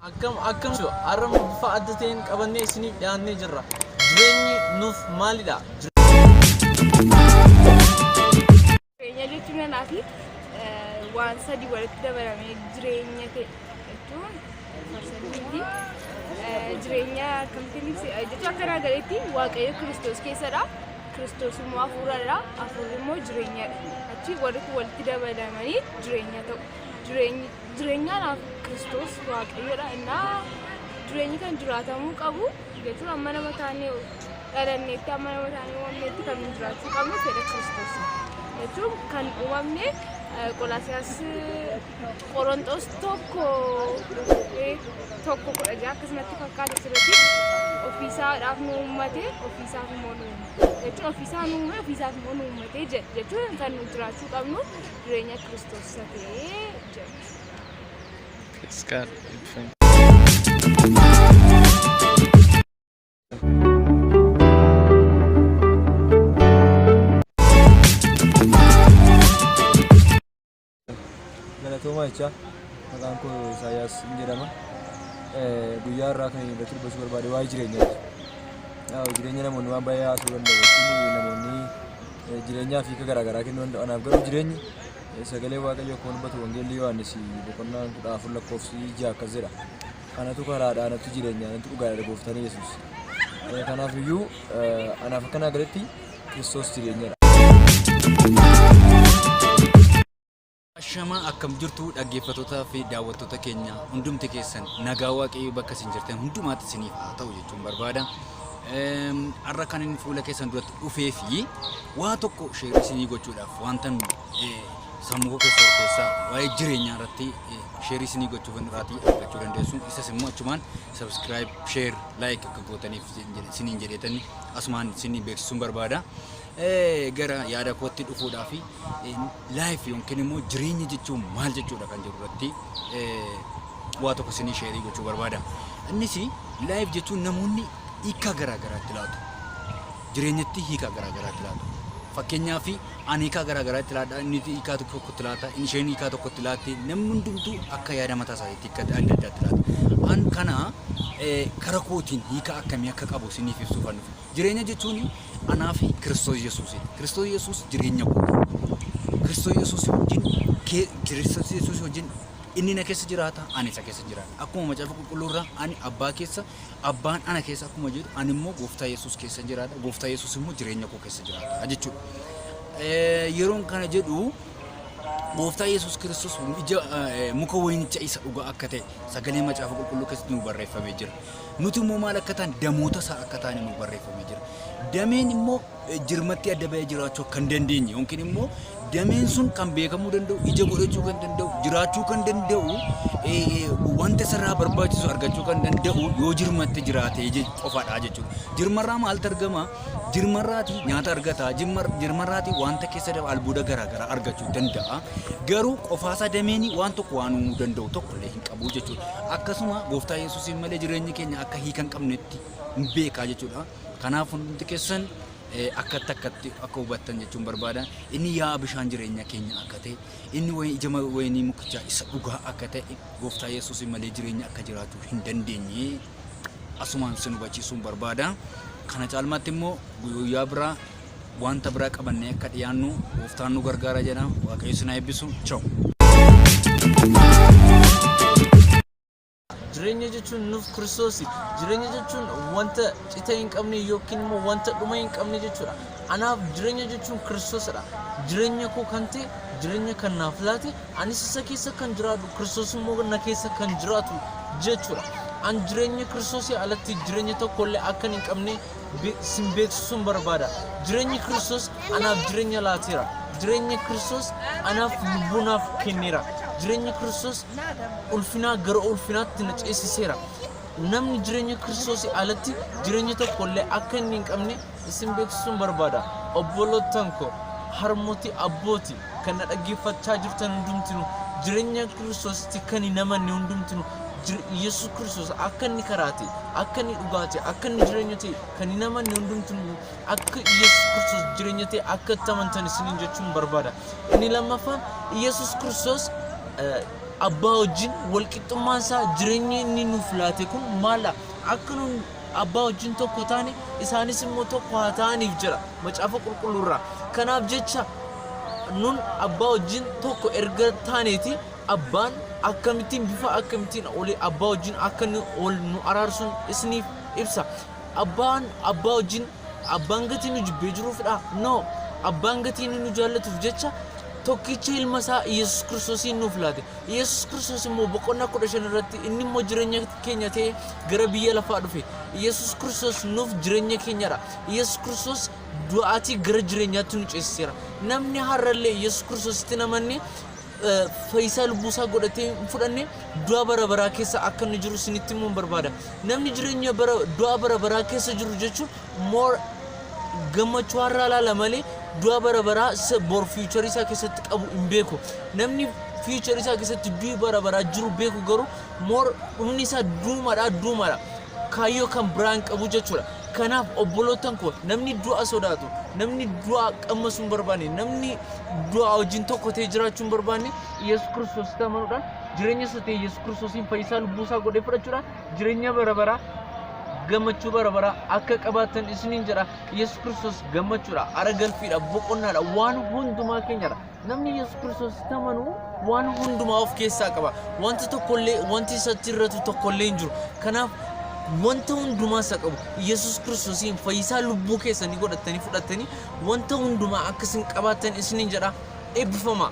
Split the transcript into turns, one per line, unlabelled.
akkam akkam jiru har'a immoo bifa adda ta'een qabannee isiniif dhiyaannee jirra jireenyi nuuf maalidha Jireenya
jechuun anaa fi waan sadii walitti dabalamee jireenya ta'e jechuun farsadiitti jireenya akkamitti ibsi jechuun akka naa galetti waaqayyo kiristoos keessadha. Kiristoos immoo hafuuradha, hafuurri immoo jireenyadha. Achi warri kun walitti dabalamanii jireenya ta'u. Jireenyi- Jireenyaadhaaf Kiristoos waaqayyodha. Innaa jireenyi kan jiraatamuu qabu jechuun amma nama taanee dhalanneetti amma nama taanee uumamneetti kan nu jiraachuu qabnu fedha Kiristoos jechuun kan uumamne eh, Qolaasiyaas Qoronxoos tokko eh, tokko kudha ja'a akkasumatti fakkaata sirriitti ofiisaadhaaf nu uummate ofiisaaf immoo nu uummate jechuun ofiisaa nu uume ofiisaaf immoo nu uummate jedha jechuun kan nu jiraachuu qabnu jireenya kiristoos isa ta'ee jedha.
Galatoomaa jechaa maqaan koo Isaayyaas hin jedhama. Guyyaa irraa kan irratti dubbachuu barbaade waa'ee jireenyaati. Yaa'u jireenya namoonni waan baay'ee haasuu danda'u. Jechuun namoonni jireenyaa fi hiika garaagaraa kennuu danda'u. Anaaf garuu jireenyi sagalee waaqayyoo kan dubbatu wangeelli Yohaannis boqonnaa kudha afur lakkoofsi ja'a akkas jedha. Anatu karaadha, anatu jireenya, anatu dhugaadha gooftaan Yesuus. Kanaaf iyyuu anaaf akka naa galetti Kiristoos jireenyadha.
Ashamaa akkam jirtu dhaggeeffatootaa fi daawwattoota keenya hundumti keessan nagaa waaqayyoo bakka isin jirtan hundumaatti isiniif haa ta'u jechuun barbaada. Har'a kan inni fuula keessan duratti dhufee fi waa tokko sheerii isinii gochuudhaaf wanta sammuu keessa keessaa waa'ee jireenyaa irratti sheerii isinii gochuu kan irraatii argachuu dandeessu. Isas immoo achumaan sabiskiraayib, sheer, laayik akka gootaniif isiniin jedheetanii Asumaan isin beeksisuun barbaada. Gara yaada kootti dhufuudhaa fi life yookiin immoo jireenya jechuun maal jechuudha kan jedhu irratti waa tokko isinii sheerii gochuu barbaada. Innis life jechuun namoonni hiika garaa garaatti laatu. Jireenyatti hiika garaa garaatti laatu. Fakkeenyaaf Ani hiikaa garaa garaa itti laadha, inni hiikaa tokko tokko itti laata, inni isheen hiikaa tokko itti laatti, namni hundumtuu akka yaada mataa isaatiitti hiika adda addaa itti laata. An kana eh, kara kootiin hiika akkamii akka qabu isiniif ibsuufan dhufe. Jireenya jechuun anaa fi Kiristoos Yesuusiidha. Kiristoos Yesuus jireenya kooti. Kiristoos Yesuus wajjin kee- Kiristoos Yesuus wajjin inni na keessa jiraata, ani isa keessa jiraadha. Akkuma macaafa qulqulluurraa ani abbaa keessa, Abbaan ana keessa akkuma jiru ani immoo gooftaa Yesuus keessa jiraadha. Gooftaa Yesuus immoo jireenya koo keessa jiraata jechuudha. Yeroon kana jedhu gooftaa Yesuus Kiristoos ija muka wayinicha isa dhugaa akka ta'e sagalee macaafa qulqulluu keessatti nu barreeffamee jira. Nuti immoo maal akka ta'an damoota isaa akka ta'an nu barreeffamee jira. Dameen immoo jirmatti adda ba'ee jiraachuu kan dandeenye yookiin immoo dameen sun kan beekamuu danda'u ija godhachuu kan danda'u jiraachuu kan danda'u wanta isarraa barbaachisu argachuu kan danda'u yoo jirmatte jiraatee qofaadha jechuudha. Jirmarraa maaltu argama? Jirmarraati nyaata argata. Jirmarraati wanta keessa dafa albuuda garaagaraa argachuu danda'a. Garuu qofaasaa dameen waan tokko waan uumuu danda'u tokkollee hin qabu jechuudha. Akkasuma gooftaa Yesuusiin malee jireenyi keenya akka hiika hin qabnetti beekaa jechuudha. Kanaaf hundumti keessan akkatti akkatti akka hubattan jechuun barbaada. Inni yaa'a bishaan jireenya keenya akka ta'e, inni ija wayinii mukichaa isa dhugaa akka ta'e, gooftaa Yesuus malee jireenya akka jiraachuu hin dandeenye asumaan sin hubachiisuun barbaada. Kana caalmaatti immoo guyyaa biraa wanta biraa qabannee akka dhiyaannu gooftaan nu gargaara jedha. Waaqayyo sin haa eebbisu. Chaw.
Jireenya jechuun nuuf Kiristoosi. Jireenya jechuun wanta cita hin qabne yookiin immoo wanta dhuma hin qabne jechuudha. Anaaf jireenya jechuun Kiristoosidha. Jireenya koo kan ta'e, jireenya kan naaf laate, anis isa keessa kan jiraadhu, Kiristoos immoo na keessa kan jiraatu jechuudha. An jireenya Kiristoosii alatti jireenya tokkollee akkan hin qabne be- sin beeksisuun barbaada. Jireenyi Kiristoos anaaf jireenya laateera. Jireenyi Kiristoos anaaf lubbuu naaf kenneera. Jireenyi Kiristoos ulfinaa gara ulfinaatti na ceesiseera. Namni jireenya Kiristoosii alatti jireenya tokko illee akka inni hin qabne isin beeksisuun barbaada. Obbolootan koo harmoti abbooti Kan na dhaggeeffachaa jirtan hundumtinu jirenya Kiristoositti kan hin amanne hundumtinu jir- Yesus Kiristoos akka inni karaa ta'e, akka inni dhugaa ta'e, akka inni jireenya ta'e kan hin amanne hundumtinu akka Yesus Kiristoos jireenya ta'e akka itti amantan isiniin jechuun barbaada. Inni lammaffaan Yesus Kiristoos eh, abbaa wajjin walqixxummaan isaa jireenyi inni nuuf laate kun maala akka nu Abbaa wajjin tokko taane, isaanis immoo tokko haa ta'aniif jedha Macaafa Qulqulluu irraa. Kanaaf jecha nun abbaa wajjin tokko erga taaneeti abbaan akkamittiin bifa akkamittiin oli abbaa wajjin akka nu ol nu araarsun isiniif ibsa. Abbaan abbaa wajjin Abbaan gatii nu jibbee jiruufidhaa? No! Abbaan gatii inni nu jaallatuuf jecha tokkicha ilma isaa Iyyasuus Kiristoosiin nuuf laate. Iyyasuus Kiristoos immoo boqonnaa kudha shan irratti inni immoo jireenya keenya ta'ee gara biyya lafaa dhufe. Iyyasuus Kiristoos nuuf jireenya keenyadha. Iyyasuus Kiristoos du'aatii gara jireenyaatti nu ceesiseera. Namni har'allee Iyyasuus Kiristoositti hin amanne eh, fayyisaa lubbuu isaa godhatee hin fudhanne du'a bara baraa keessa akka inni jiru isinitti himuun barbaada. Namni jireenya bara du'a bara baraa keessa jiru jechuun more gammachuu har'aa laala malee du'a bara baraa isa bor fiicharii isaa keessatti qabu hin beeku. Namni fiicharii isaa keessatti du'i bara baraa jiru beeku garuu more dhumni isaa duumadha duumadha. Kaayyoo kan biraa hin qabu jechuudha. Kanaaf obboloottan koo, namni du'a sodaatu, namni du'a qammasuu hin barbaanne, namni du'aa wajjin tokko ta'ee jiraachuu hin barbaanne, Yesus Kiristoositti amanuudhaan, jireenya isa ta'e Yesus Kiristoosiin fayyisaa lubbuu isaa godhee fudhachuudhaan jireenya bara baraa, gammachuu bara baraa akka qabaattan isiniin jedha. Yesus Kiristoos gammachuudha, ara galfiidha, boqonnaadha, waan hundumaa keenyadha. Namni Yesuus Kiristoositti amanu waan hundumaa of keessaa qaba. Wanti tokkollee, wanti isatti irratu tokkollee hin jiru. Kanaaf wanta hundumaa isa qabu. Yesuus Kiristoosiin fayyisaa lubbuu keessanii godhattanii fudhattanii wanta hundumaa akka isin qabaattan isiniin jedha eebbifamaa.